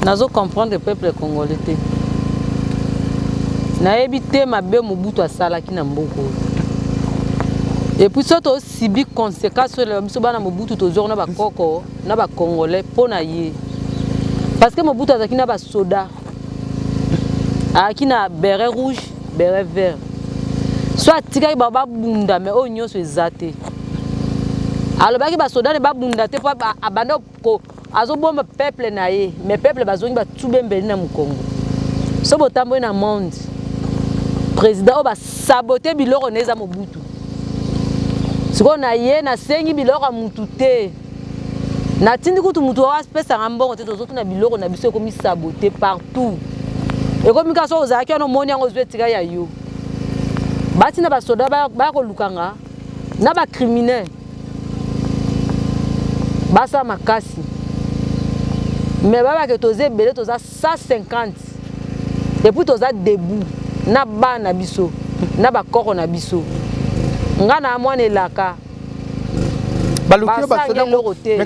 nazo comprendre peuple congolais te nayebi te mabe mobutu asalaki na mboka oyo epuis so tosibi conséquence oyo elela biso bana mobutu tozwaki na bakoko na bacongolais mpo na ye parce que mobutu azalaki na basoda ayaki na beret rouge beret vert so atikaki bango babunda mai oyo nyonso eza te alobaki basoda ne babunda te mpo abanda ko Azobomba peuple na ye, mais peuple bazongi batube mbeli na mukongo. So botamboli na monde, president oyo basabote biloko na eza Mobutu. Sikoyo na ye nasengi biloko ya mutu te. Natindi kutu mutu oyo apesanga mbongo te, tozotuna biloko na biso ekomi sabote partout. Ekomi kaka soki ozalaki wana omoni yango ozwi etika ya yo. Batina basoda baya kolukanga na bacriminel. basa makasi me babake toza ebele toza 150 epuis toza debout na bana na biso na bakoko na biso nga na mwana elaka basangi eloko te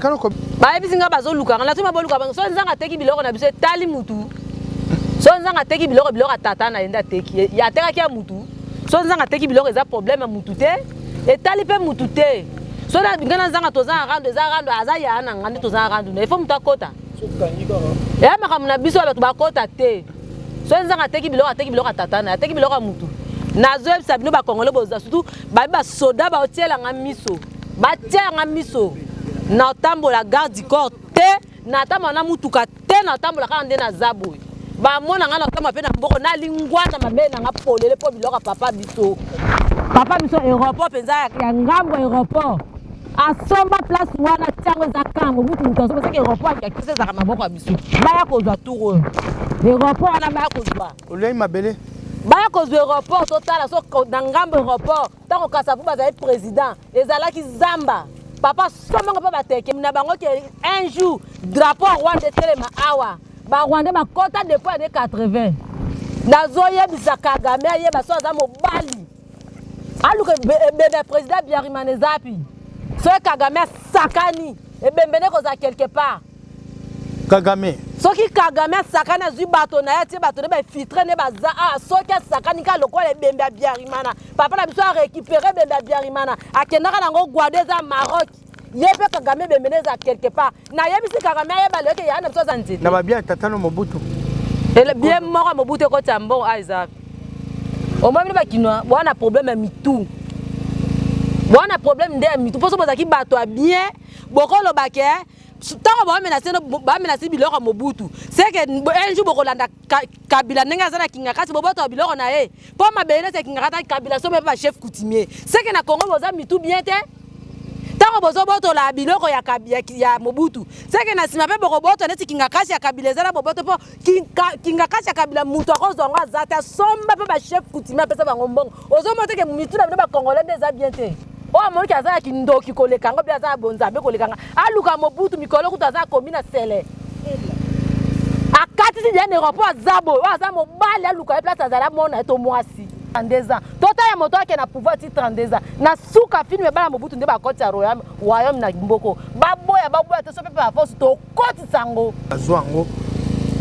bayebisi nga bazoluka nga natuma boluka bango soki nzanga ateki biloko na biso etali mutu soki nzanga ateki biloko biloko ya tata na ye nde ateki atekaki ya mutu so nzanga ateki biloko eza problème ya mutu te etali mpe mutu te so ngai na nzanga toza na rando eza rando aza yaya na ngai nde toza na rando na ifo moto akota eya makambo na biso ya bato bakota te so nzanga ateki biloko ateki biloko ya tata na ateki biloko ya motu nazoyebisa bino bakongole boza surtout babi basoda baotiela ngai miso batiela ngai miso naotambola garde du corps te natambala na mutuka te natambola kaka nde naza boye bamona ngai natamba mpe na mboko nalingwana mabele na nga polele mpo biloko ya papa biso papa biso aéroport mpenza ya ngambo aéroport asomba place wana ntango eza kango mutu moto asomba soki aéroport ya kisi ezalaka maboko ya biso baya kozwa tour oyo aéroport wana baya kozwa oliai mabele baya kozwa aéroport totala so na ngambo aéroport Tango Kasavubu azali president ezalaki zamba. Papa somongo mpe bateke na bango ke un jour drapeau Rwanda etelema awa. Ba Rwanda bakota depuis année 80. Nazoyebisa Kagame ayeba so aza mobali. Aluka ebebe president Biarimana ezapi. Soki Kagame asakani ebembe nde kozala quelque part. kagame soki kagame asakani azwi bato na ye atie bato na bainfiltre nde baza awa soki asakani kaka lokola ebembe ya biarimana papa na biso arécupere ebembe ya biarimana akendaka nango guado eza maroc ye mpe kagame ebembe nde eza quelque part nayebisi kagame ayeba lelo ke yaa na biso aza nzete na babia ya tatano mobutu bie moko ya mobutu ekoti ya mbongo a eza omoi bino bakinois boa na problème ya mitu boa na problème nde ya mitu mpo so bozalaki bato ya bien bokoloba ke ntango bamenase bamenase biloko ya mobutu seke un jour bokolanda kabila ndenge aza na kingakati bobotoka biloko na ye mpo mabele neti ya kingakati kabila sobe mpe bachef coutumier seke na congo boza mitu bien te ntango bozobotola biloko ya, ya, ya mobutu seke na nsima mpe bokobotola neti kingakasi ya kabila eza na boboto mpo kingakati ya kabila moto akozwa yango aza te asomba mpe bachef coutumier apesa bango mbongo ozomona teke mitu na bino bacongolais nde eza bien te oyo amoniki aza ya kindoki koleka yango mpe aza ya bonzambe koleka nga aluka mobutu mikolo kutu aza akomi na sele akatisi diane rompo aza boye oyo aza mobali aluka ye place azali amona ye to mwasi 32 ans totala moto ake na pouvoir ti 32 ans na suka filme bana mobutu nde bakoti ya royaume na mboko baboya baboya te so mpe baforce to kotisa yango azwa yango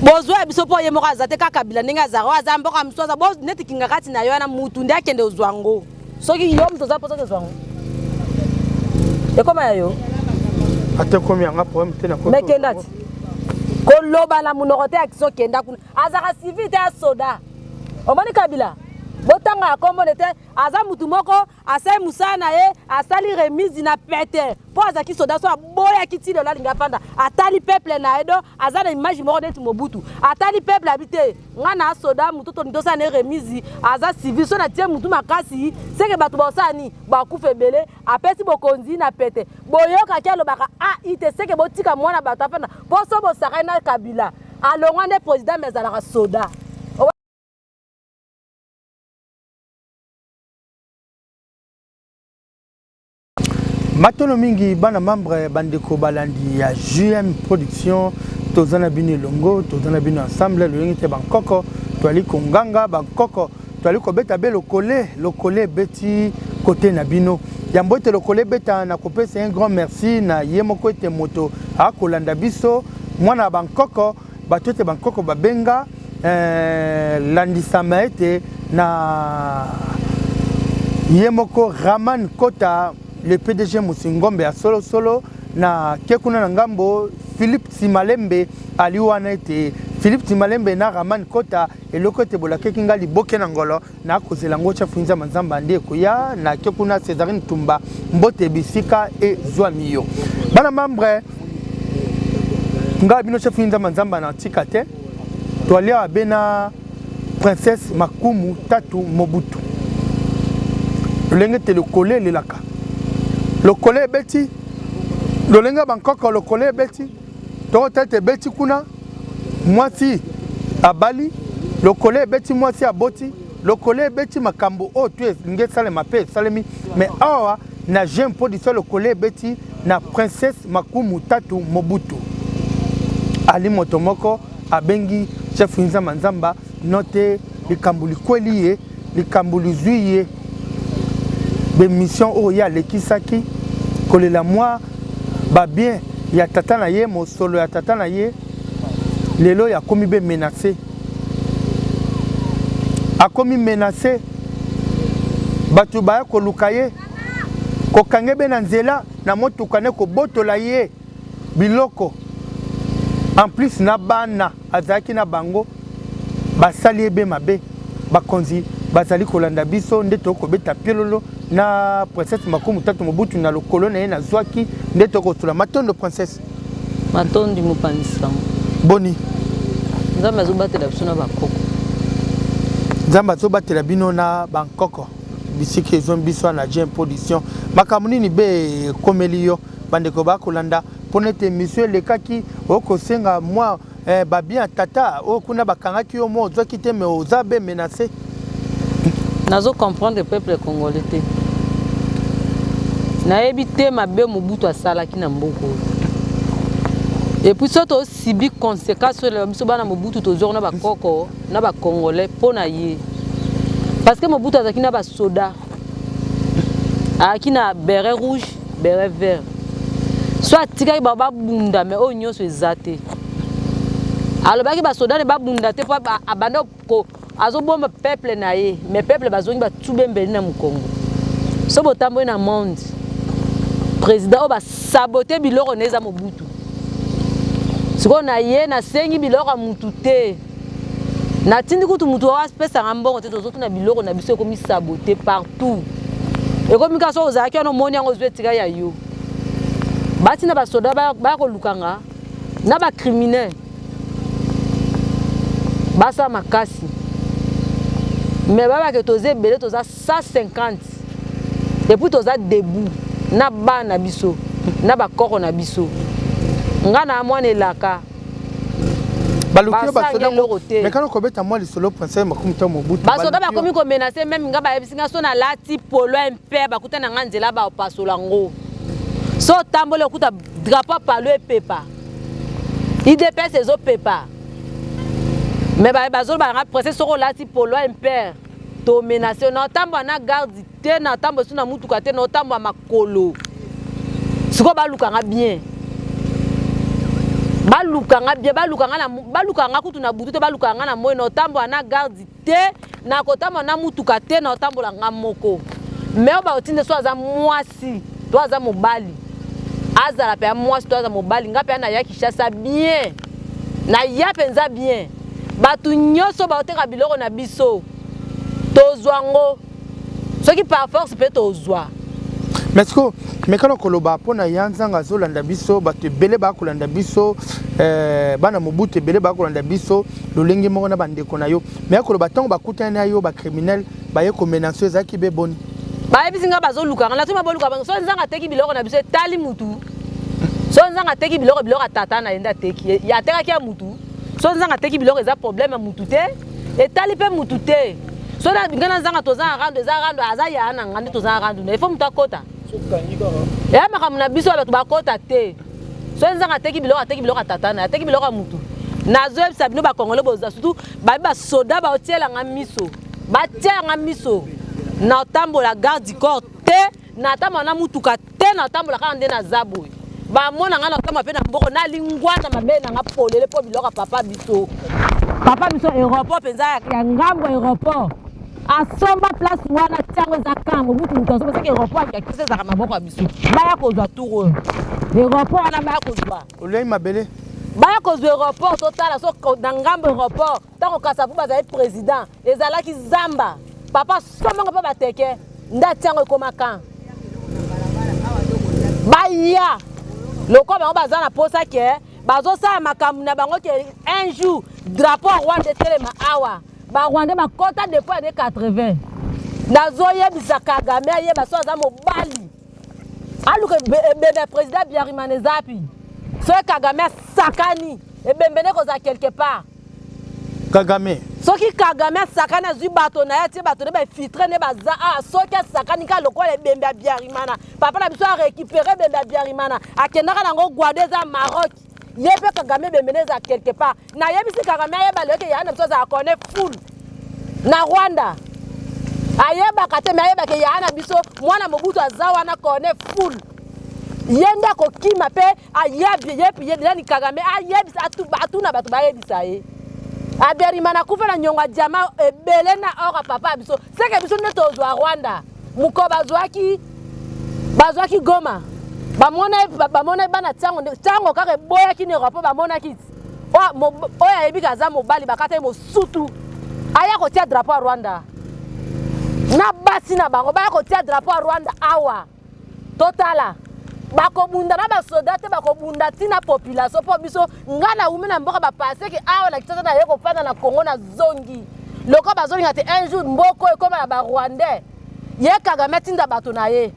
bozwa ya biso mpo ye moko aza te kaka kabila ndenge azala oyo aza mboka mosusu aza neti kingakati na yo wana mutu nde akende ozwa yango soki yo moto oza mposa tozwa yango ekoma ya yo ata ekomi yanga problème te na mekenda ti koloba na monoko te action kenda kuna azalaka civil te ya soda omoni kabila botanga ya kombone te aza mutu moko asali mosala na ye asali remise na pete mpo azalaki soda so aboyaki ti lelo alingi afanda atali peuple na ye do aza na image moko neti mobutu atali peuple abi te nga na soda motu toni tosala ne remise aza civil so na tie motu makasi seke bato baosala nini bakufa ebele apesi bokonzi na pete boyokaki alobaka ai te seke botika mwana bato afanda mpo so bosakani na kabila alongwa nde president me azalaka soda matono mingi bana membre bandeko balandi ya jm production toza na bino elongo toza na bino ensemble loyenge te bankoko toali konganga bankoko toali kobeta be lokole lokole ebeti kote na bino yambo ete lokole ebeta na kopesa un grand merci na ye moko ete moto akolanda biso mwana ya bankoko bato ete bankoko babenga eh, landisama ete na ye moko raman kota le pdg mosingombe ya solosolo na ke kuna na ngambo philipe timalembe ali wana ete philipe timalembe na raman kota eloko ete bolakeki ngai liboke na ngolo na kozela ngo chafu nza manzamba nde koya na ke kuna Césarine Tumba mbote bisika e zwa miyo bana membre nga bino chafu nza manzamba na tika te to alia abena princesse Makumu Tatu Mobutu lolenge te lokole lelaka lokole ebeti lolenge bankoko lokole ebeti toko tete ebeti kuna mwasi abali lokole ebeti mwasi aboti lokole ebeti makambo oyo tu elingi esalema mpe esalemi mais awa na jeune production lokole ebeti na princesse makumu tatu mobutu ali moto moko abengi chef nzamba nzamba note likambo likweli ye likambo lizwi ye bemission oyo ye alekisaki kolela mwa babien ya tata na ye mosolo ya tata na ye lelo oyo akomi be menase akomi menase bato baya koluka ye kokange be na nzela na motuka nde kobotola ye biloko en plus na bana azalaki na bango basali ebe mabe bakonzi bazali kolanda biso nde tokoki kobeta piololo na princesse makumu tatu mobutu na lokolo na ye nazwaki nde tokoki kosula matondo princesse matondi mopanzi sango boni nzambe azobatela biso na bakoko nzambe azobatela bino na bankoko bisika ezongi biso wana jim production makambo nini be ekomeli yo Bandeko ba kolanda pona ete emission elekaki okosenga mwa eh, babien ya tata oyo kuna bakangaki yo mwa ozwaki te me oza be menace nazo comprendre peuple congolais te nayebi te mabe mobutu asalaki na mboka oyo epuis so tosibi conséquence oyo biso bana mobutu tozwaki na bakoko na bacongolais mpo na ye parce que mobutu azalaki na basoda ayaki na beret rouge beret vert so atikaki bango babunda me oyo nyonso eza te alobaki basoda ne babunda te mpo abanda azobomba peuple na ye me peuple bazongi batube mbeli na mokongo so botamboli na monde président oyo basabote biloko na eza mobutu sikoyo na ye nasengi biloko ya motu te natindi kutu moto apesaka mbongo te tozotuna biloko na biso ekomi sabote partout ekomi kaka soki ozalaki wana omoni yango ozwi etika ya yo batina basoda baya koluka nga na bacriminel basala makasi me babake toza ebele toza 150 epuis toza debout na bana biso na bakoko na biso nga na mwana elaka basoda bakomi komenase meme nga bayebisi nga so nalati polo mpe bakuta na nga nzela bapasola ngo so otamboli okuta drapo palo epepa idps ezopepa me bazoloba nanga prese soki olati polo impere tomenase na otambola na garde te na tambo esu na mutuka te na otambo ya makolo sikoyo baluka nga bien baluka nga bien baluka nga baluka nga kutu na butu te baluka nga na moyi na otambola na garde te na kotambola na mutuka te na otambola nga moko me oyo baotinda so aza mwasi to aza mobali azala mpe ya mwasi to aza mobali nga mpe naya kishasa bien naya mpenza bien bato nyonso baoteka biloko na biso tozwa ngo soki par force mpe tozwa mais siko mekana koloba mpo na ya nzanga azolanda biso bato ebele bakolanda biso eh, bana mobutu ebele bakolanda biso lolenge moko na bandeko na yo me akoloba ntango bakutani na yo bacriminel baye komenanso ezalaki be boni bayebisi ngai bazolukanga na toma boluka bango so nzanga ateki biloko na biso etali mutu so nzanga ateki biloko biloko ya tata na ye nde ateki atekaki ya mutu so nzanga ateki biloko eza problème ya mutu te etali mpe mutu te so na ngai nazanga toza na rando eza rando aza yaya na ngai nde toza na rando na ifo moto akota eya makambo na biso ya bato bakota te so nzanga ateki biloko ateki biloko ya tata na ateki biloko ya motu nazoyebisa bino bakongole boza surtout babi basoda baotiela ngai miso batiela ngai miso na otambola garde du corps te natambala na mutuka te natambola kaka nde naza boye bamona ngai natamba mpe na mboko nalingwana mabe na nga polele mpo biloko ya papa biso papa biso aéroport mpenza ya ngambo aéroport asomba place wana ntango eza kango butu moto asomba soki aéroport akisa ezaka maboko ya biso baya kozwa tour oyo aéroport wana baya kozwa olei mabele baya kozwa aéroport totala so na ngambo aéroport Tango Kasavubu azali president ezalaki zamba. Papa somongo mpe bateke ndati yango ekoma kan baya lokola bango baza na posa ke bazosala makambo na bango ke un jour drapeau ya rwanda etelema awa barwandais bakota depuis ane 80 nazoyebisa kagame ayeba so aza mobali aluka ebembe ya président biarimana eza api soki kagame asakani ebembe nde kozala quelque part kagame soki kagame asakani azwi bato na ye atie bato nde bainfiltre nde baza awa ah, soki asakani kaka lokola ebembe ya biarimana papa na biso arekipere ebembe ya biarimana akendaka nango guado eza maroc ye mpe kagame bembene eza quelque part nayebisi kagame ayeba lelo te yaya na biso azala kone full na rwanda ayebaka te me ayebake yaya na biso mwana mobutu aza wana kone full ye nde akokima mpe ayebiyebiyebinani kagame ayebisa atuna bato bayebisa ye aberimana akufa na nyongo ya diama ebele na or ya papa ya biso seke biso nde tozwa rwanda mokolo bazwaki bazwaki goma bamonaki bamona, bana ntango ntango kaka eboyaki na eropa bamonaki oyo ayebi ka aza mobali bakata ye mosutu aya kotia drapo ya rwanda na basi na bango baya kotia drapo ya rwanda awa totala bakobunda na basoda te bakobunda ntina population mpo biso ngai naumi na mboka bapaseke awa na kitata naye kofanda na congo na zongi lokola bazolinga te un jour mboko ekoma ya barwandais ye kagame atinda bato na ye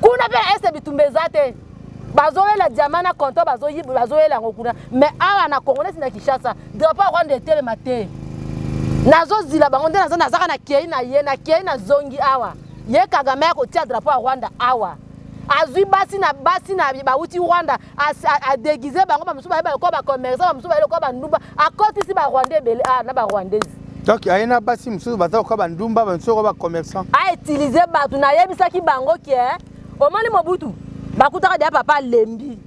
kuna mpe na este bitumba eza te bazoyela diama na compto bazoyela yango kuna mais awa na congo neti na kinshasa drapo ya rwanda etelema te nazozila bango nde nazaka na kei na ye na kei na zongi awa ye kagame ya kotia drapo ya rwanda awa azwi basi na basi na bauti rwanda adegize bango bamosusu baye baloko bacommerçant bamosusu baye lokola bandumba akotisi barwanda ebele ah, na barwandaise donc aye na basi mosusu baza lokola bandumba bamosusu lokola bacommerçant autilize bato nayebisaki bango ke omoni mobutu bakutaka deya papa alembi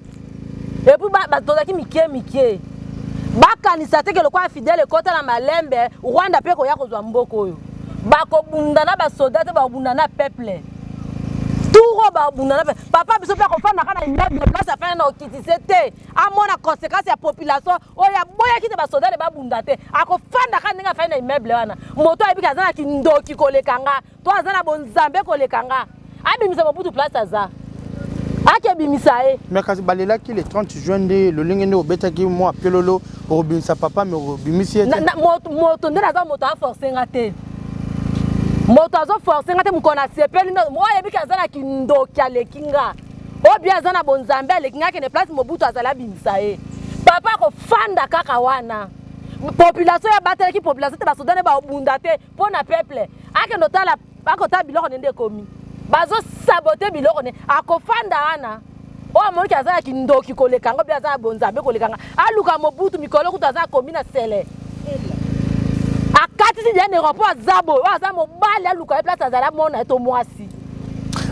epuis bato tozalaki mikie mikie bakanisa teke lokola fidele ekota na malembe rwanda mpe koya kozwa mboka oyo bakobunda na basoda te bakobunda na peuple turo babunda na papa biso mpe akofandaka na immeuble place afanda na okitise te amona conséquence ya population oyo aboyaki te basodale babunda te akofandaka ndenge afandi na immeuble wana moto ayebiki aza na kindoki koleka nga to aza na bonzambe koleka nga abimisa mobutu place aza akebimisa ye me kasi balelaki le 30 juin nde lolenge nde obetaki mwa pelolo okobimisa papa me obimisi ye moto nde naza moto aforce nga te moto azoforce nga te mokolo nasepeli oyebiki aza na kindoki aleki nga oyo bia aza na bonzambe aleki nga kende place mobutu azali abimisa ye papa akofanda kaka wana population ya batelaki population te basoda ne babunda te mpo na peuple akende otala akotala biloko ne nde ekomi bazosabote biloko ne akofanda wana oyo amoniki aza ya kindoki koleka yango mpe aza ya bonzambe koleka nga aluka mobutu mikolo kutu aza akomi na sele akatisi diane ropo aza boye oyo aza mobali aluka ye place azala mona ye to mwasi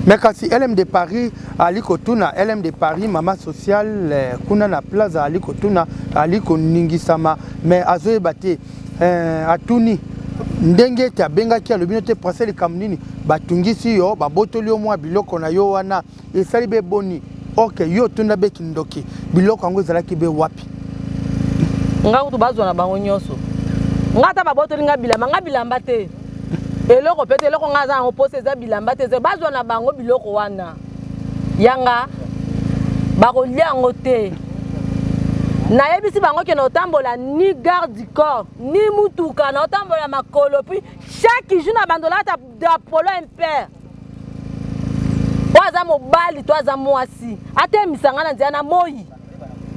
me kasi lm de paris ali kotuna lm de paris mama sociale eh, kuna na plaza ali kotuna ali koningisama me azoyeba te eh, atuni ndenge ete abengaki alobi no te prase likambo nini batungisi yo babotoli yo mwa biloko na yo wana esali be boni ok yo otunda be kindoki biloko yango ezalaki be wapi ngai kutu bazwa na bango nyonso ngai ata babotoli ngai bilamba ngai bilamba te eloko mpe te eloko ngai aza yango mposa eza bilamba te bazwa na bango biloko wana yanga bakolia yango te nayebisi bango ke naotambola ni garde du corps ni mutuka naotambola makolo puis chaque jour na bando olata dapolo impere oyo aza mobali to aza mwasi atemisa ngai na nzela na moi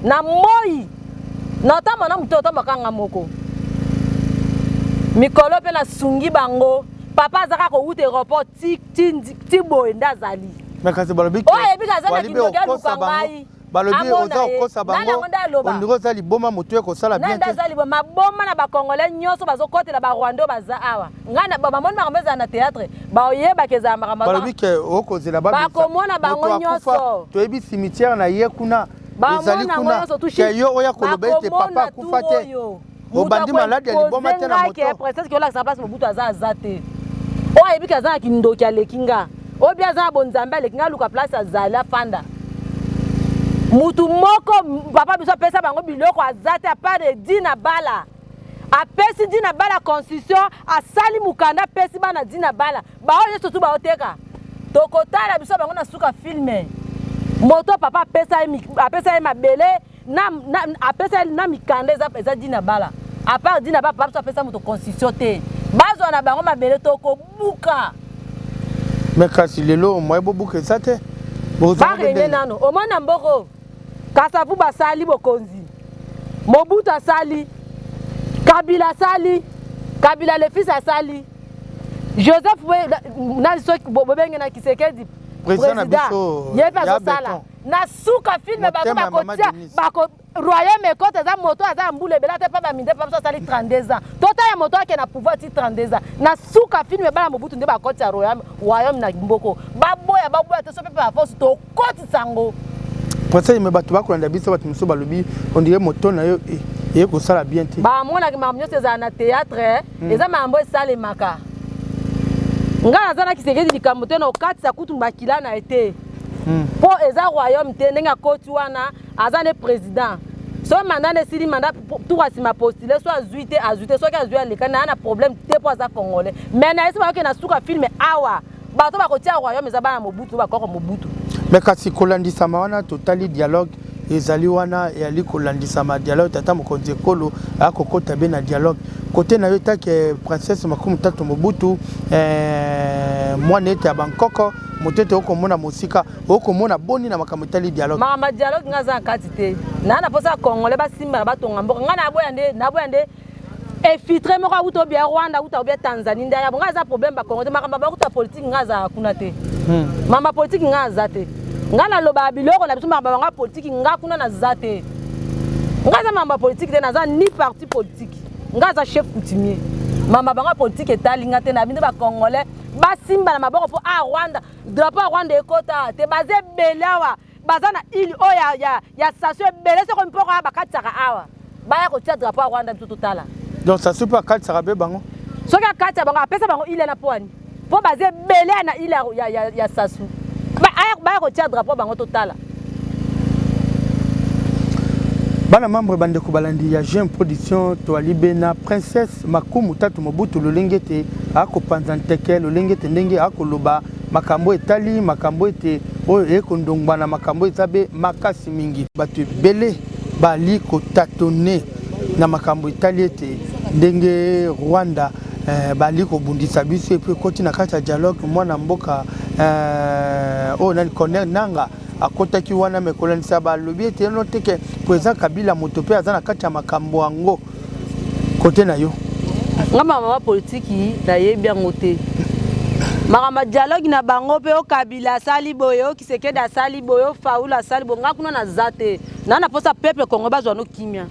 na moi naotambola na moto otambola kanga moko mikolo mpe nasungi bango papa azaka kowuta aeroport tik ti boye nde azali mais kasi balobi oyo ayebi kaza na kindoki aluka ngai balobi oza kokosa bango ondiri oza liboma motu ye kosala bien te aza liboma maboma na bacongolais nyonso bazokotela barwanda oyo baza awa ngai bamoni makambo ezala na théâtre baoyebaka ezala makambo balobi ke okozela bakomona bango nyonso toyebi cimetière na ye kuna ezali kuna ke yo oya koloba ete papa akufa te obandi maladi ya liboma te na moto presence ki olakisa place mobutu aza aza te oyo ayebi ke aza na kindoki aleki nga oyo mpe aza na bonzambe aleki nga aluka place azali afanda mutu moko papa biso apesa bango biloko aza te apart edi na bala apesi di na bala constitution asali mokanda apesi bana di na bala baoyo nyonso tu baoteka tokotala biso bango na suka filme moto papa apesa ye mabele na, na, apesa na mikanda eza, eza dina bala apart dina bala papso apesa moto constitution te bazwa na bango mabele to kobuka me kasi lelo moye bobuka eza te barene nano omona mboko kasavu basali bokonzi mobutu asali kabila asali kabila lefis asali joseph nani soki bobenge na kisekedi président ye mpe azosala na suka filme bango bakotia bako royaume ekota eza moto aza ya mbula ebele ata epa baminde epa biso asali 32 ans totala moto ake na pouvoir ti 32 ans na suka filme bana mobutu nde bakoti ya royaume royaume na mboko baboya baboya te so mpe mpe baforce tokotisa yango conseil me bato bakolanda biso bato mosusu balobi ondire moto na yo eh, eye kosala bien te bamonaki makambo nyonso ezala na théâtre eh. hmm. eza makambo esalemaka ngai naza na kisekedi likambo te na okatisa kutu makila na ye te hmm. mpo eza royaume te ndenge akoti wana aza nde président soki manda nde esili manda tour asima postule so azwi te azwi te soki azwi aleka na ya na problème te mpo aza congolais mais na yesi bayoki na suka filme awa bato bakotia royaume eza bana mobutu bakoko mobutu mais kasi kolandisama wana totali dialogue ezali wana eyali kolandisama dialogue tata mokonzi ekolo akokota be na dialogue kote na yo etake princesse makumi tatu mobutu eh, mwana ete ya bankoko moto ete okomona mosika okomona boni na makambo etali dialogue makambo dialogue ngai aza na kati te naa na mposa ya congolais basimbana batonga mboka ngai naboya nde naboya nde efitre moko awuta obia rwanda awuta obia tanzanie nde ayabo ngai aza problème bakongo te makambo bakuta politike ngai azalaka kuna te hmm. makambo ya politike ngai aza te ngai nalobaka biloko na biso makambo yango ya politike ngai kuna naza te ngai aza makambo ya politike te naza ni parti politike ngai aza chef coutumier mama bango ya politike etali ngai te na bino bacongolais basimba na maboko mpo a ah, rwanda drapo ya rwanda ekota awa te baza ebele awa baza na ile oyo ya, ya, ya station ebele soko mpoko awa bakatisaka awa baya kotia drapo ya rwanda biso totala donc station mpe akatisaka mpe bango soki akatisa bango apesa bango ile na pwani mpo baza ebele na ile ya, ya, ya, ya sasu baya kotia drapo bango totala Bana membre bandeko balandi ya Jeune Production toali be na Princesse Makumu Tatu Mobutu lolenge ete akopanza nteke lolenge ete ndenge akoloba makambo etali makambo ete oyo eye kondongwa na makambo eza be makasi mingi bato ebele bali kotatone na makambo etali ete ndenge Rwanda Eh, bali kobundisa biso epuis ekoti na kati ya dialogue mwana mboka eh, oyo nani corner nanga akotaki wana mekolanisa balobi ete no teke president kabila moto mpe aza na kati ya makambo yango kote na yo nga mamama politiki nayebi yango te makambo ya dialogue na bango mpe okabila asali boye okisekedi asali boye ofaula asali boye nga kuna naza te na na posa peuple congolais bazwa no kimia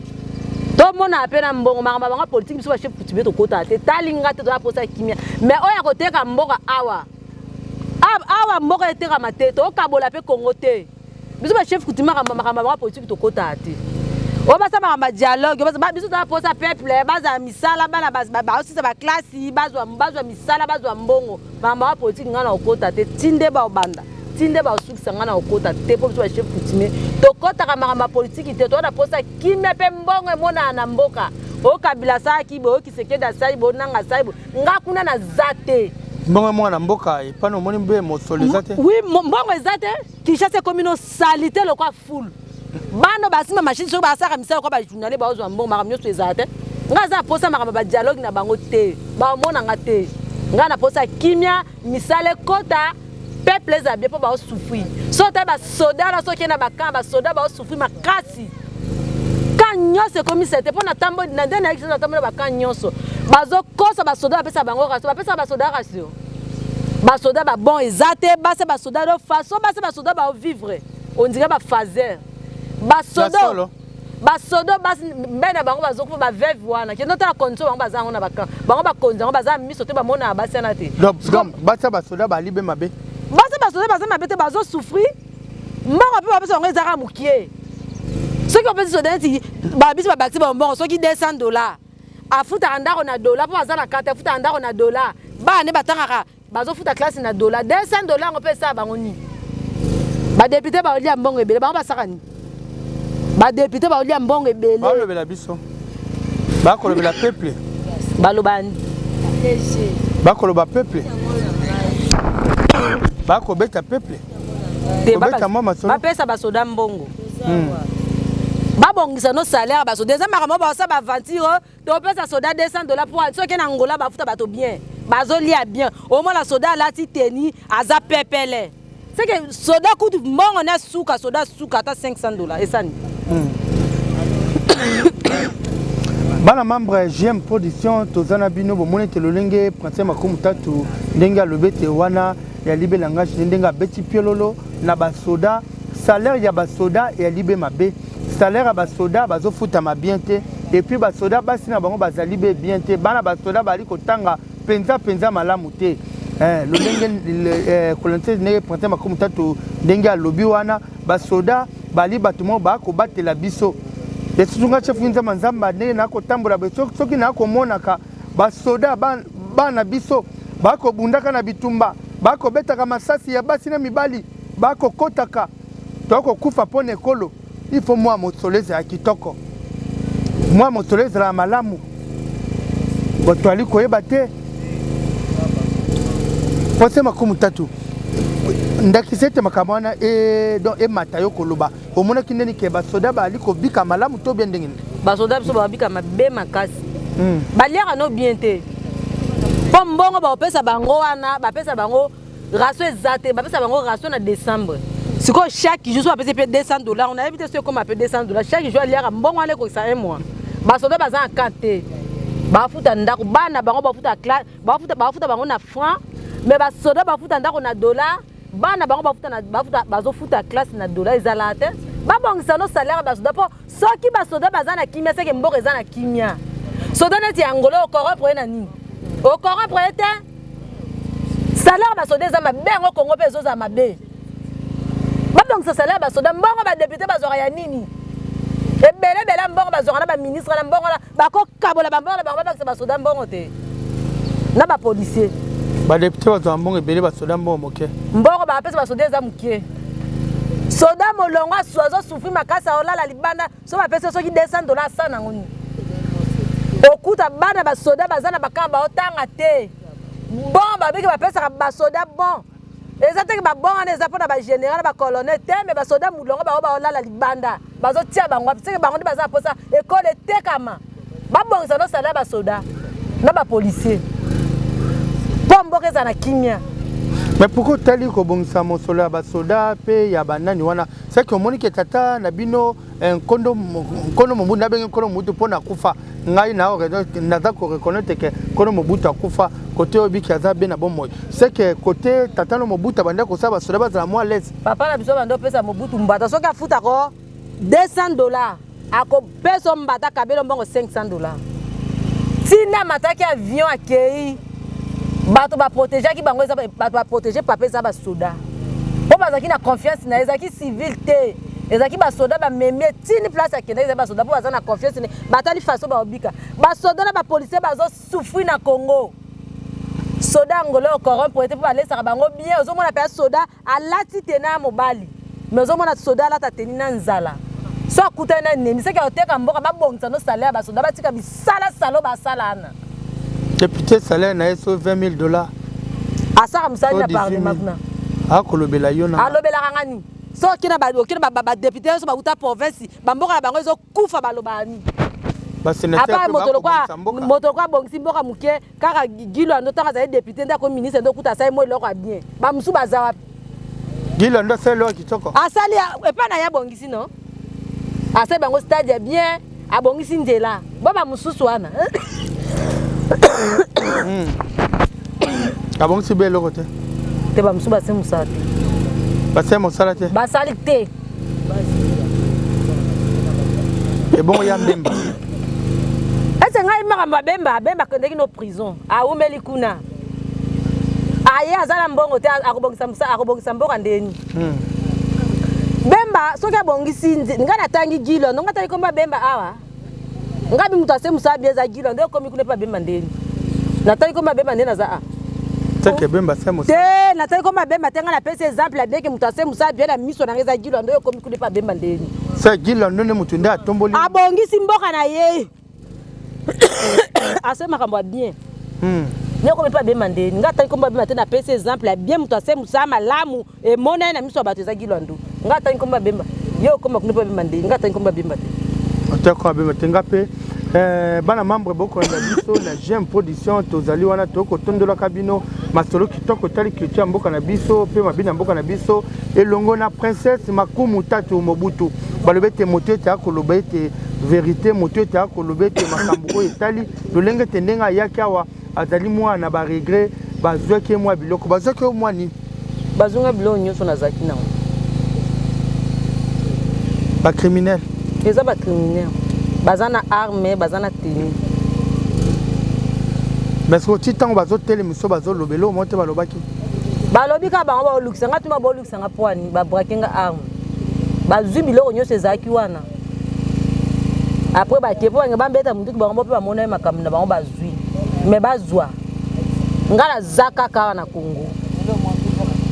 tomona mpe na mbongo makambo ya bango politiki biso bachef kutube tokotaka te talinga te toza posa kimia me oyo ya koteka mboka awa awa mboka etekama te tokabola mpe kongo te biso bachef kutube makambo ya bango politiki tokotaka te oyo basala makambo ya dialogue biso toza posa peuple bazala misala bana baosisa baklasi bazwa misala bazwa mbongo bamba politique ngai na kokota te tinde babanda tinde basukisa ngai na kokota te mpo biso bachef coutumier tokotaka makambo ya politiki te toza na mposa kimia mpe mbongo emonana na mboka oyo kabila asalaki boyo kisekedi asali boyo nanga asali boyo ngai kuna naza te mbongo mwana na mboka epana omoni mbe mosolo eza te wi mbongo eza te kinshasa ekomi no salite lokwa fulu bana oyo basimba mashine soki basalaka misala kwa bajournale baozwa mbongo makambo nyonso ezala te ngai aza naposa makambo badialogue na bango te baomona nga te ngai naposa kimia misala ekota peuple ezala bie mpo baosufri soki otali basoda wana soki na bakaa basoda baosufri makasi ka nyonso ekomisa te mpo natamboli na nde nayaki natambola bakaa nyonso bazokosa basoda bapesa bango rasio bapesaka basoda rasio basoda babon eza te base basoda do façon base basoda baovivre on dirait ba phaser ba sodo ba sodo ba mbe na bango bazokufa ba veuve wana kendo tala condition bango baza yango na ba camp bango bakonzi yango baza miso te bamona basi wana te basa basoda balibe mabe basa basoda baza mabe te bazosouffrir mbongo mpe bapesa bango ezaka mokie soki bapesi soda neti babisi babakisi bambongo soki 200 dollar afutaka ndako na dola mpo baza na karte afutaka ndako na dola bana nde batangaka bazofuta classe na dola 200 dola yango mpe esala bango nini badepute baolia mbongo ebele bango basaka nini badepute baolia mbongo ebele balobela biso bakolobela peuple baloba nini bakoloba peuple bakobeta peuple bapesa basoda mbongo hmm. babongisa no salaire basoda eza makambo baosa baaventure topesa soda 200 dola mpo soki na ngola bafuta bato bien bazolia bien omona soda alati teni aza pepele seke soda kutu mbongo na suka soda suka ata 500 dola esani hmm. bana membre ya gm production toza na bino bomoni ete lolenge prince makumu tatu ndenge alobi ete wana ya libe langage nde ndenge abeti piololo na basoda salaire ya basoda ya libe mabe salaire ya basoda bazofutama bien te epuis basoda basi na bango bazali be bien te bana basoda bazali kotanga mpenza mpenza malamu te eh, lolenge kolonise eh, ndenge printemps makumi tatu ndenge alobi wana basoda bali bato moko bakobatela biso esusu ngai chef nzamba nzamba ndenge nakotambola soki nakomonaka basoda bana biso bakobundaka na bitumba bakobetaka masasi ya basi na mibali bakokotaka tokokufa mpo na ekolo ifo mwa mosolo ezala kitoko mwa mosolo ezala malamu botwali koyeba te pose makumu tatu ndakisa ete makambo wana e, don emata yo koloba omonaki ndeni ke basoda baali kobika malamu to bie ndenge nini basoda biso babika mabe makasi hmm. baliaka no bien te mpo mbongo bakopesa bango wana bapesa bango raso eza te bapesa bango raso na décembre sikoyo chaque jour so bapesi mpe 200 dollars nayebi te so ekoma mpe 200 dollars chaque jour aliaka mbongo wana ekokisa un mois basoda baza na camp te bafuta ndako bana bango bafuta classe bafuta bafuta bango na franc mais basoda bafuta ndako na dollar bana bango bafuta na bafuta bazofuta classe na dollar ezala te babongisa no salaire basoda mpo soki basoda baza na kimia seke mboka eza na kimia soda neti ya ngolo okoropre ye na nini okoropre ye te salaire basoda eza mabe yango kongo mpe ezozala mabe babongisa salaire basoda mbongo badepute bazwaka ya nini ebele ebele mbongo bazwaka na baministre na mbongo na bakokabola bambongo na bango babakisa basoda mbongo te na bapolisier badepute bazwa mbongo ebele basoda mbongo moke mbongo bapesa basoda eza moke soda molongo asu azosufri makasi aolala libanda so bapesi soki 200 dola asa nango nini okuta bana basoda baza na bakama baotanga te bon babiki bapesaka basoda bon eza teke babonga wana eza mpona bagénéral na bacolonel te me basoda mulongo bango baolala libanda bazotia bango wapi teke bango nde baza na mposa ekolo etekama babongisa nosala ya basoda na bapolicier mpo mboka eza na kimia me pourkui otali kobongisa mosolo ya basoda mpe ya banani wana seke omonike tata na bino Eh, nkondo nkondo mobutu nabengi nkondo mobutu mpo na kufa ngai naza koreconnaitre ke nkondo mobutu akufa kote oyo biki aza be na bomoi seke kote tata no mobutu abandi akosala basoda bazala mwa lese papa na biso bandi opesa mobutu mbata soki afuta ko 200 dollar akopesa mbata kabelo mbongo 500 dollar ntina mataki avion akei bato baprotegeaki bango bato baprotege papa eza basoda mpo bazalaki na confiance na ye ezalaki civile te ezalaki basoda bamemi ye tini place akendaki ezali basoda mpo baza na confiance ne batali faso baobika basoda na bapolisier bazosufri na congo soda ya ngolo oyo corrompre ete mpo balesaka bango bien ozomona mpe soda alati tena ya mobali mais ozomona soda alata teni na nzala so akutani na enemi seke oteka mboka babongisa no salaire ya basoda batika bisala salo basala ana depute salaire na ye so 20 000 dollars asaka mosali na parlement kuna akolobela yo na alobelaka ngani so oke na badoki na badepute nyonso bauta province bamboka na bango ezokufa balobaka nini apa moto lokola abongisi mboka moke kaka gilo ando ntango azali depute nde akomi ministre nde okuta asali moi eloko ya bien bamosusu baza wapi gilo ando asali eloko kitoko asali epai na ye abongisi no asali bango stade ya bien abongisi nzela bo bamosusu wana hmm. abongisi be eloko te te bamosusu base mosala te base mosala te basali te ebongo ya mbemba ese ngai makambo abemba abemba akendeki no prison awumeli kuna aye aza na mbongo te akobongisa mboka ndeni hmm. bemba soki abongisi ngai natangi gilo ndongo atali komba bemba awa ngai bi moto ase mosala bie eza gilo nde okomi kuna epa bemba ndeni natali komba bemba nde naza a teke bemba se mosala te natali komba bemba te ngai napesi exemple ya bieke moto ase mosala bie na miso na ngai eza gilo nde okomi kuna epa bemba ndeni se gilo ndo nde moto nde atomboli abongisi mboka na ye ase makambo ya bien hmm. yoko mpe abema ndeni ngai atali kombo abema te napesi exemple ya bien moto ase mosala malamu emona ye na miso ya bato ezaki lwandu ngai atali kombo abemba ye okoma kuna mpe abemba ndeni ngai atali kombo abemba te atako abemba te ngai mpe eh, bana membre bokolanda biso na gem production tozali wana tokotondolaka bino masolo kitoko etali culture ya mboka na biso mpe mabe na mboka na biso elongo na princesse makumu tatu mobutu balobi ete moto ete akoloba ete verite moto ete akoloba ete makambo oyo etali lolenge ete ndenge ayaki awa azali mwana na baregret bazwaki ye mwa biloko bazwaki yo mwa nini bazonga biloko nyonso nazalaki nango bacriminel eza bacriminel baza na arme baza na teni mais oti ntango bazotelemiso bazolobela oyo mo te balobaki balobi kaka bango baolukisa ngai tuma sanga poani ba braquer nga arme bazui biloko nyonso ezalaki wana après bake mpo bange bambeta monduki bango mpe bamonaki makambo na bango bazwi me bazwa ngai naza kaka awa na congo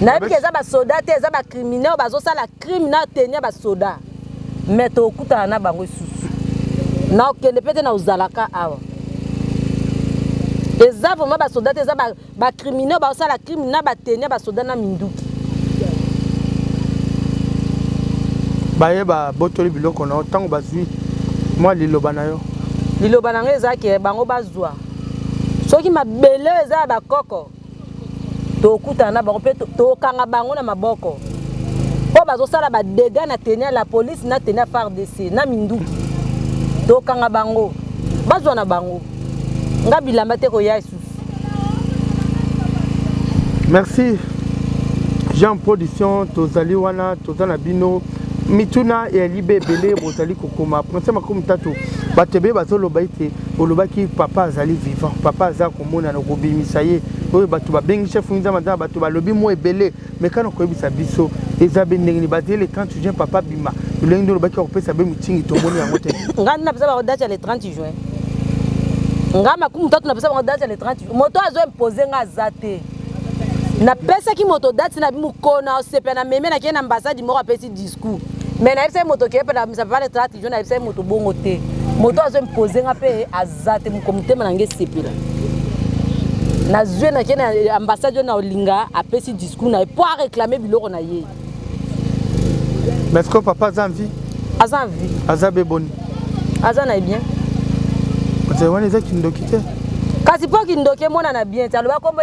nayebi ke eza basoda te eza bacrimine oyo bazosala crime na teni ya basoda me tokutana na bango esusu nakokende mpe te na ozalaka awa eza vraimen basoda te eza ba criminaux ba sala crime na ba tenir ba soda na minduki baye ba botoli biloko na yo tango bazui mwa liloba na yo liloba na ngai ezalaki eh, bango bazwa soki mabele oyo eza ya bakoko tokutana na bango mpe tokanga bango na maboko mpo bazosala badega na tenia la polise na tenia fardc na minduki tokanga bango bazwa na bango nga bilamba te koya lisusu merci jean production tozali wana toza na bino mituna ya libe ebele bozali kokoma prince makumi tatu bato ebele bazoloba ete olobaki papa azali vivant papa aza komonana okobimisa ye oyo bato babengi chef nzambe aza na bato balobi mwa ebele meka na koyebisa biso eza be ndenge nini bazele 30 juin papa bima lolenge nde olobaki akopesa be mitingi tomoni yango te ngai nde napesa bango date ya le 30 juin ngai makumu tatu napesa bango date ya le 30 juin moto azo impose ngai aza te napesaki moto date na bimokolo na osepela na meme nakei na ambassade moko apesi discours mais nayebisaki moto keyepela misapapa le 30 juin nayebisaki moto bongo te moto azo impose ngai mpe za te moko motema na ngai esepela nazwi nake na ambassade oyo na olinga apesi discours na ye mpo areklame biloko na ye mais ce que papa aza envie aza envie aza be boni aza na ye bien ozali wana eza kindoki te kasi mpo kindoki emonana bien te aloba kombo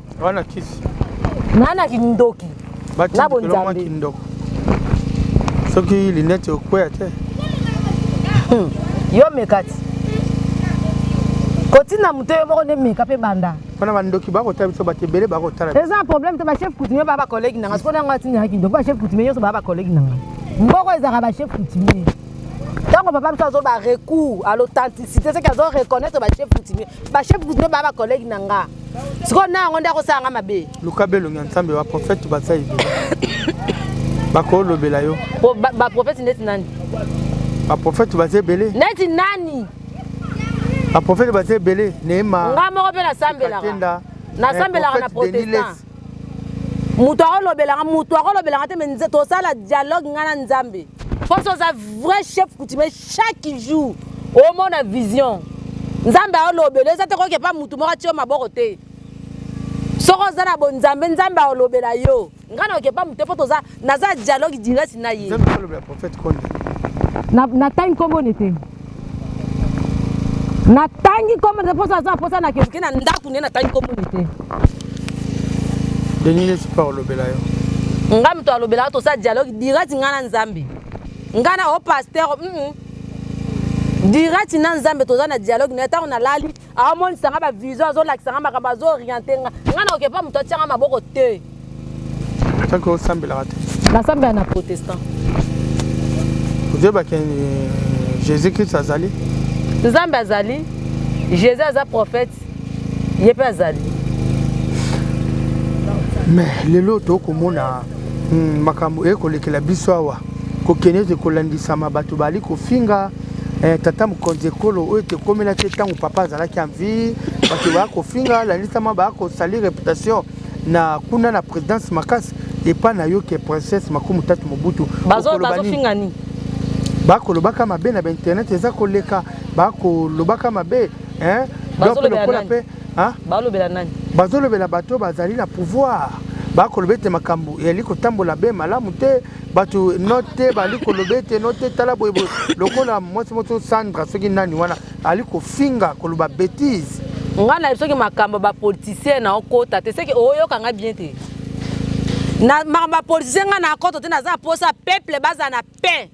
wana kisi nana kindoki na bonzambe kindoko soki linete okweya te hmm. yo mekati kotina moto yo moko nde meka mpe banda wana bandoki bakotala biso bato ebele bakotala eza problème te bachef coutumier baa bacollègue nanga sikoyo nango atinaka kindoko bachef coutumier nyonso baa bacollègue nanga mboko ezalaka bachef coutumier ntango papa biso azoba recours à l'authenticité soki azo reconnaître bachef coutumier bachef coutumier baa bacollègue na nga sikoyo na yango nde akosala nga mabe luka belongi ya nsambe baprofete baza ebele bakolobela yo baprofete ndeti nani baprofete baza ebele ndeti nani baprofete baza ebele neema nga moko mpe nasambelaka nasambelaka na protestant moto akolobelanga moto akolobelanga te me tosala dialogue ngai na nzambe mposo oza vrai chef coutumier chaque jour omona vision nzambe aolobela eza te koyoka epa motu moko atio maboko te soki oza na bonzambe nzambe aolobela yo ngai nayoka epa motu te mpo toza naza dialogue direct na ye natangi nkombo ne te natangi nkombo ne te mposa aza mposa nakeoke na ndako ne natangi nkombo ne te denis nesi mpo aolobela yo ngai moto alobelaka tosa dialogue direct ngai na nzambe nga na o pasteur mm. dirati na nzambe toza na dialogue na ntango nalali aomonisa nga bavision azolakisa nga makambo azooriente nga nga na okepa moto atyanga maboko te soki osambelaka te nasambela na protestant oyebaki eh, jésus christ azali nzambe azali jésus aza prophète ye mpe azali me lelo tokomona hmm, makambo eye kolekela biso awa kokende ete kolandisama bato bali kofinga eh, tata mokonzi ekolo oyo ete ekomela te ntango papa azalaki envie bato baya kofinga alandisama baya kosali reputation na kuna na présidence makasi epai na yo ke princesse makumi tatu mobutu bazofinga nini bakolobaka mabe na bainternet eza koleka bakolobaka mabe hein donc lokola pe hein balobela nani bazolobela bato bazali na pouvoir bakoloba ete makambo yali kotambola be malamu te bato no te bali koloba ete no te tala boyeboye lokola mwasi moto sandra soki nani wana ali kofinga koloba betise nga na soki makambo bapoliticien na okota te seke oyoka nga bien te na makambo bapoliticien nga na akoto te naza mposa peuple baza na paix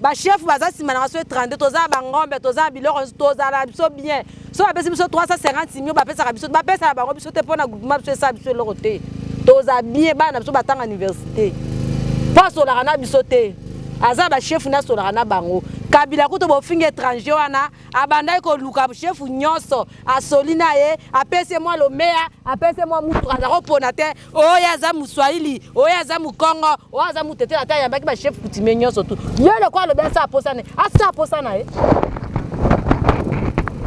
ba chef baza nsima na baso ye 32 toza na bangombe toza na biloko nyonso tozala na biso bien so bapesi biso 350 mio bapesaka biso bapesa na bango biso te mpo na groupement biso esala biso eloko te toza bien bana na biso batanga université mpo asolaka na biso te aza bashefu nde asolaka na bango kabila kutu bofingi étranger wana abandaki koluka shefu nyonso asoli na ye apesi mwa lomeya apesi mwa mutuka aza kopona te oyo aza muswahili oyo aza mukongo oyo aza mutetela ata ayambaki bachef coutumier nyonso tu yo lokola alobi asa aposa ne asa aposa na ye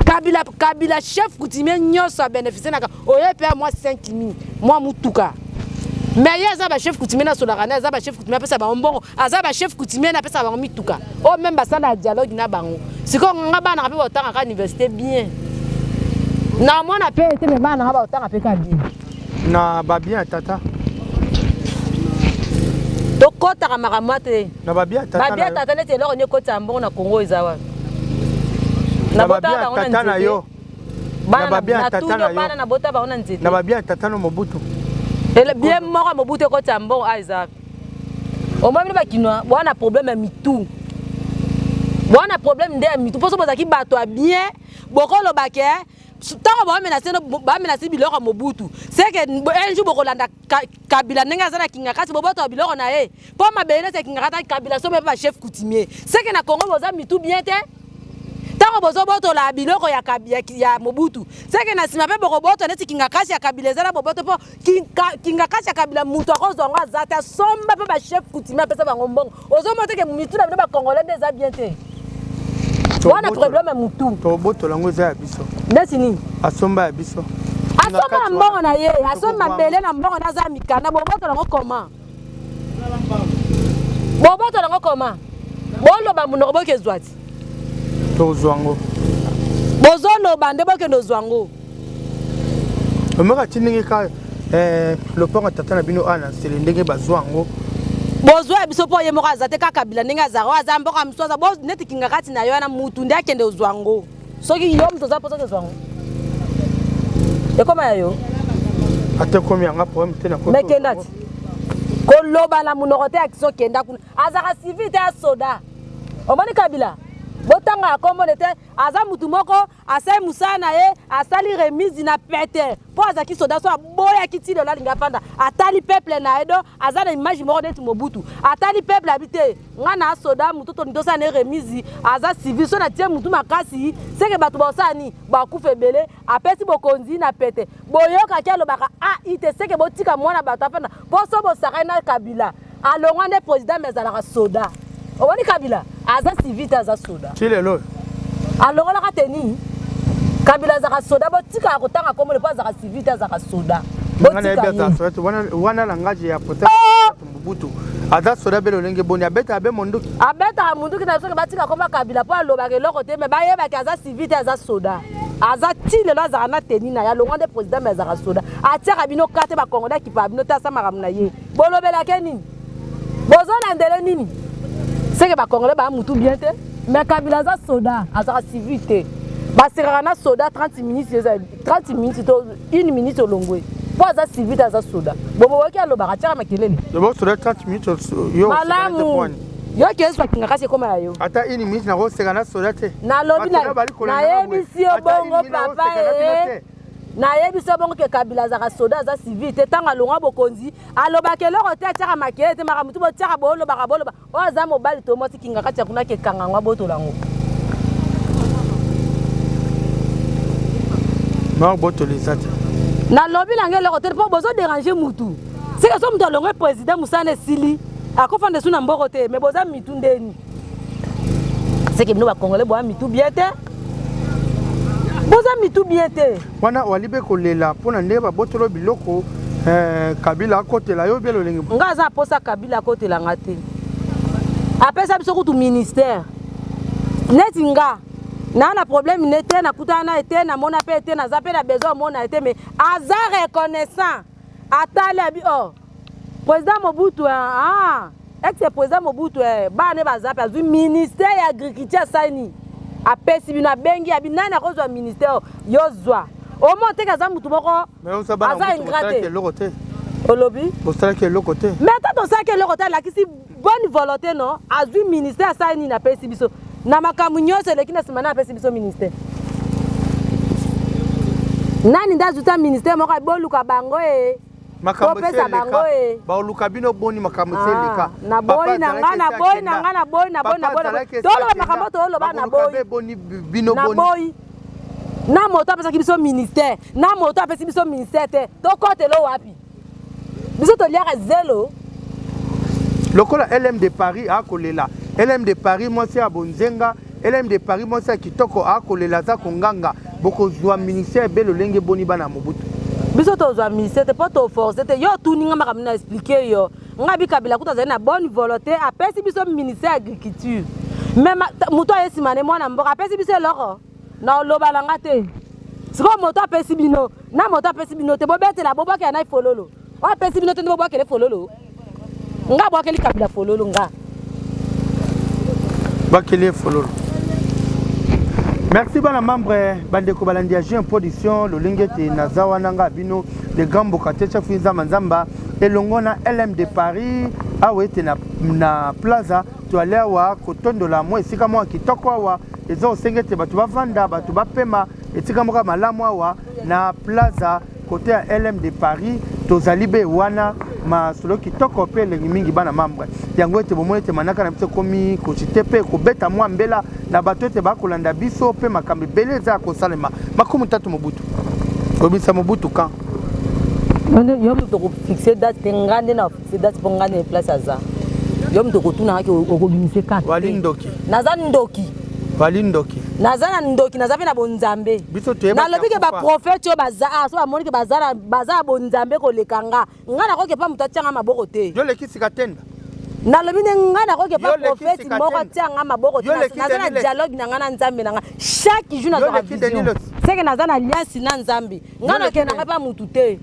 kabila kabila chef coutumier nyonso abeneficie naka oyo mpe ya mwa 5 mi mwa motuka mais ye aza bachef coutumier na solakane aza bachef coutumier apesa bango mbongo aza bachef coutumier na apesa bango mituka oyo oh, meme basala dialogue na bango sikoyo nga bana ka mpe baotangaka université bien na mwana mpe ete me bana nga baotanga mpe ka bien na babien ya tata tokɔtaka makambo te na babien ya tata babien ya tata neti eloko nde ekotisa mbongo na kongo eza wapi na babien ya tata na yo na babien ya tata na yo bana na bota bango na nzete na babien ya tata no mobutu bien moko mobutu ekotisa mbongo a eza wapi omoi bino bakinois bwana problème ya mitu bwana problème nde ya mitu mposo bozalaki bato ya bien bokolobake ntango bamenase bamenase biloko ya mobutu seke un jour bokolanda kabila ndenge aza na kingakati bobotoka biloko na ye mpo mabele neti ya kingakati kabila sobe mpe bachef coutumier seke na congo boza mitu bien te ntango bozobotola biloko ya, ya, ya mobutu seke na nsima mpe bokobotola neti kingakasi ya kabila eza na boboto mpo kingakati ya kabila moto akozwa yango aza te asomba mpe bachef coutumier apesa bango mbongo ozomona teke mitu na bino bacongolais nde eza bien te wana problème ya motu tobotola yango eza ya biso neti nini asomba ya biso asomba na mbongo na ye asomba mbele na mbongo na aza mikanda bobotola yango comment boboto nango koma boloba monoko bokezwa ti tozwa yango bozoloba nde bokende ozwa yango omeka ti ndenge ka eh, lopango tata na bino awa na nsele ndenge bazwa yango bozwa ya biso mpo ye moko aza te kaka kabila ndenge azala oyo aza mboka mosusu aza neti kingakati na yo wana mutu nde akende ozwa yango soki yo moto oza mposa kozwa yango ekoma ya yo ata ekomi yanga problème te nakmekenda ti koloba na monoko te akiso kenda kuna azalaka civil te ya soda omoni kabila botanga ya kombone te aza motu moko asali mosala na ye asali remise na pete mpo azalaki soda so aboyaki ti lelo alingi afanda atali peuple na ye do aza na image moko neti mobutu atali peuple abi te nga na soda moto toni tosala na ye remise aza civil so na tie motu makasi seke bato baosala nini bakufa ebele apesi bokonzi na pete boyokaki alobaka ai te seke botika mwana bato afanda mpo so bosakani na kabila alongwa nde président me azalaka soda omoni kabila aza civil te aza soda ti lelo oyo alongolaka teni kabila azalaka soda botikaka kotanga kombo le mpo azalaka civil te azalaka soda botika wana langage ya pota oh! Mobutu aza soda be lolenge boni abetaka be monduki abetaka monduki na soki batika koma kabila mpo alobaka eloko te me bayebaki aza civil te aza soda aza ti lelo azalaka na teni na ye alongwa nde président me azalaka soda atiaka bino ka te bakongole akipaka bino te asa makambo na ye bolobelake nini bozolandele nini seke bakongole baa mutu bien te me kabila aza soda azalaka civil te basekaka na soda 30 minutes 30 minutes to une minute olongwe mpo aza civil aza soda boboyoki alobaka atyaka makelele bosoda 30 minutes yo malamu yo kesu bakinga kasi ekoma ya yo ata une minute nakoseka na soda te nalobi nayebisi yo bongo papa e nayebisi yo bongo ke kabila azaka soda aza civil te ntango alongwa bokonzi alobaka eloko te atyaka makele te makambo tu botyaka bolobaka boloba oyo aza mobali to mwasi kingakati ya kuna kekanga yango abotola yango maobotola eza te nalobi nange eloko te mpo bozo derange mutu seke so moto alongwe président mosala esili akofanda esu na mboko te me boza mitu ndeni seke bino bacongolais boya mitu bien te boza mitu bien te Wana walibe kolela pona nde babotolo biloko eh, kabila akotela yo bie lolenge nga aza aposa kabila akotela nga te apesa biso kutu ministère neti nga naa na problème ne te nakutana na ye te namona mpe te naza mpe na besoin omona ye te mais aza reconnaissant atali abi o oh. President Mobutu ah ex president Mobutu eh bana ne baza pe azui ministère ya agriculture asani apesi bino abengi abi nani akozwa ministère yo zwa omo oteki aza motu moko aza ingrate olobi bosalaki eloko te mais ata tosalaki eloko te alakisi bonne volonté no azwi ministère asali nini apesi biso na makambo nyonso eleki na nsima na apesi biso ministère nani nde azwi ta ministère moko boluka bango e makambo esi eleka baoluka bino boni makambo esi eleka ah, naboyi na ngai naboyi na ngai naboyi naboyi naboyi toloba makambo toloba naboyi bino boni na moto apesaki biso ministère na moto apesi biso ministère te tokotelo wapi biso toliaka zelo lokola lm de paris akolela lm de paris mwasi ya bonzenga elm de paris mwasi ya kitoko akolela aza konganga bokozwa ministère be lolenge boni bana mobutu biso tozwa ministère te mpo toforce te yo otuni nga makambo na explike yo nga bikabila kutu azali na bonne volonté apesi biso ministère ya agriculture me moto aye nsima ne mwana mboka apesi biso eloko na oloba na nga te sikoyo moto apesi bino na moto apesi bino te bobetela bobwakela na ifololo oyo apesi bino te nde bobwakele fololo nga bwakeli kabila fololo nga bwakeli ye fololo merci bana membre bandeko balandi ya jeune production lolenge ete naza wana nga bino le grand mbokatiecha fui nzamba nzamba elongo na lm de paris awa ete na, na plaza toale awa kotondola mwa esika mwa kitoko awa eza osenge ete bato bavanda bato bapema esika moko ya malamu awa na plaza Kote ya LM de Paris tozali be wana masolo kitoko mpe elengi mingi bana mambre yango ete bomoni ete manaka na biso ekomi kocite mpe kobeta mwa mbela na bato ete bakolanda biso mpe makambo ebele eza ya kosalema makumi tatu mobutu kobimisa mobutu kan yo moto kofixe date te nga nde na C'est date pour nga ne place aza. Yo mto kotuna haki okobimisa kaka. Wali ndoki. Naza ndoki. Wali ndoki. Naza na ndoki, naza pe na bonzambe. Biso toyeba. Na lobi ke ba prophète yo baza, ah, so amoni ke baza na baza bonzambe ko lekanga. Nga na koke pa muta tianga maboko te. Yo leki sikatenda. nalobi nde ngai nakoki epa profeti moko atia ngai maboko naza na dialogue na ngai na nzambe na ngai chaque jour nazwaka vision seke naza na liasi na nzambe nga nakenda nga mpe mutu te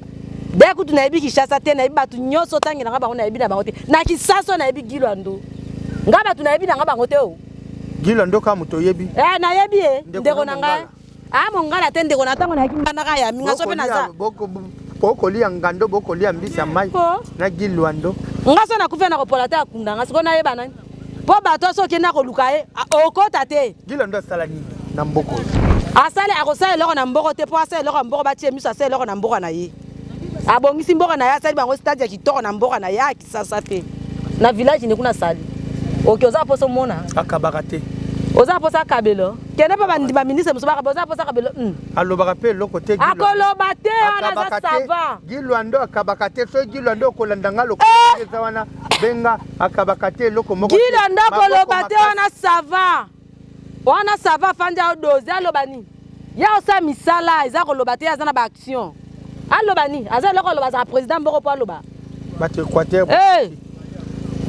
de kutu nayebi kinshasa te nayebi bato nyonso otangela nga bango nayebi na bango te na kisaso nayebi gilwando nga bato nayebi na nga bango te o gilwando ka moto oyebi eh, nayebi e ndeko na ngai a ah, mongala te ndeko na ntango nayaki mbandaka ya minga so mpe naza bokolia ngando bokolia mbisi ya mai na gilwando nga so nakufi na kopola te akunda nga sikoyo nayeba nani mpo bato nyonso okenda koluka ye okota te gila ndo asala nini na mboko asali akosala eloko na mboko te mpo asala eloko ya mboko batie miso asala eloko na mboko na ye abongisi mboka na ye asali bango stade ya kitoko na mboka na ye ya kisasa te na village nde kuna asali oke oza mposa omona akabaka te oza mposa akabelo kende mpe bandi baministre mosusu bakaba oza mposa akabelo hmm. alobaka mpe eloko te akoloba te wana aza sava gilwando akabaka te soki gilwando okolanda nga lokola eh! eza wana benga akabaka te eloko moko gida ndako loba te wana sava wana sava afandi aodoze aloba nini ye osala misala eza koloba te aza na baaction aloba nini aza eloko aloba azala président mboko mpo aloba bato équateur hey! Eh!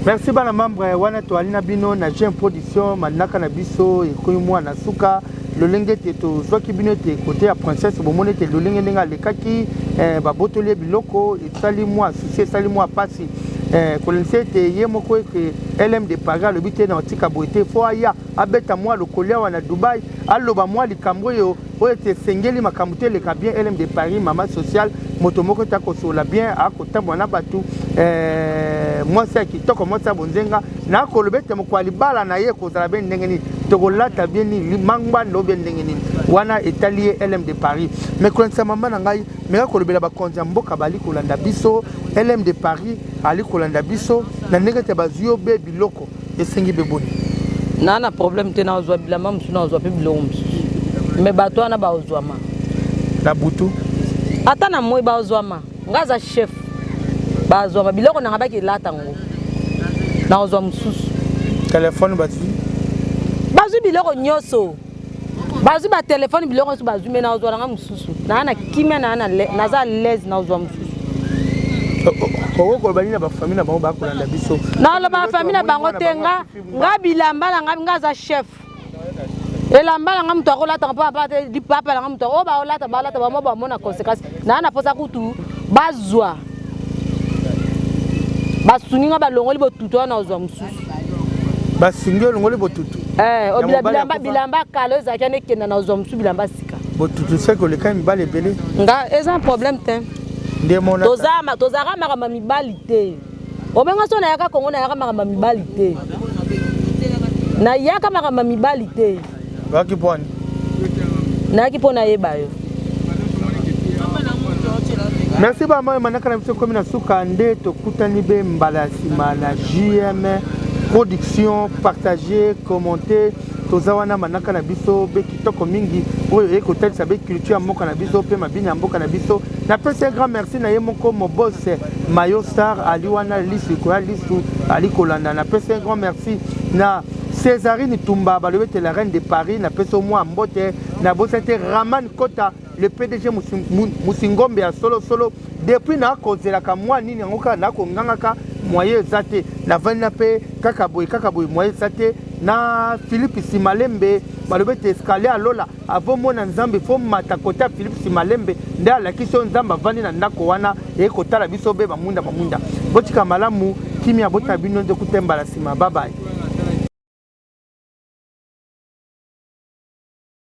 merci bana membre wana toali na bino na jeune production manaka na biso ekomi mwana suka lolenge ete tozwaki bino ete kote ya princesse bomoni ete lolenge ndenge alekaki eh, babotoli ye biloko esali mwa susi esali mwa mpasi eh, kolendisa ete ye moko ete lm de paris alobi te na otika boye te fo aya abeta mwa lokoli awa na dubai aloba mwa likambo oyo oyo ete esengeli makambo te eleka bien lm de paris mama sociale moto moko ete akosolola bien akotambola na bato eh, mwasi ya kitoko mwasi ya bonzenga na akoloba ete mokwa libala na ye ekozala be ndenge nini tokolata bie nini mangbanda obe ndenge nini wana etali ye lm de paris mais kolendisa mama na ngai meka kolobela bakonzi ya mboka bali kolanda biso lm de paris ali kolanda biso na ndenge ete bazwi yo be biloko esengi be boni naa na problème te nazwa bilamba mosusu nazwa mpe biloko mosusu me bato wana baozwama na butu ata na moi baozwama nga aza chef bazwama biloko nanga bakilata yango nakozwa mosusu telefone bazwi bazwi biloko nyonso bazwi batelefone biloko nyonso bazwi me nazwa nanga mosusu naa na kimia naa naza alaise nazwa mosusu okokoloba nini na bafami na bango bakolanda biso naloba bafami na bango te nga nga bilamba na ngai nga aza chef elamba na ngai moto akolataka mpo apate lipapa na ngai moto oyo baolata balata bamo bamona conséquence naa na mposa kutu bazwa basungi nga balongoli botutu wana ozwa mosusu basungi olongoli botutu eh, oh, bilamba bilamba kala ezalaki wana ekenda na ozwa mosusu bilamba sika botutu seke olekaki mibali ebele nga eza problème te tozalaka makambo ya mibali te obenga so nayaka kongo nayaka makambo ya mibali te nayaka makambo ya mibali te Nayaki mpo ani? Nayaki mpo nayeba yo. Merci ba mama manaka na biso komi na suka nde tokutani be mbala ya nsima na JM production partager commenter toza wana manaka na biso be kitoko mingi oyo eye kotalisa be culture ya mboka na biso mpe mabini ya mboka na biso napesi un grand merci na ye moko mobose mayo star ali wana lisu koya lisu ali kolanda napesi un grand merci na Césarine Tumba balobi ete la reine de Paris na peso mwa mbote na bosa te Raman Kota le PDG Musingombe ya solo solo depuis na kozelaka mwa nini yango kaka na kongangaka moyen eza te na vandi na pe kaka boye kaka boye moyen eza te na Philippe Simalembe balobi ete escalier alola Avo mona nzambe fo mata kote ya philipe simalembe nde alakisi yo nzambe avandi na ndako wana eye kotala biso be bamunda bamunda botika malamu kimia botala bino nde kutembala nsima babaye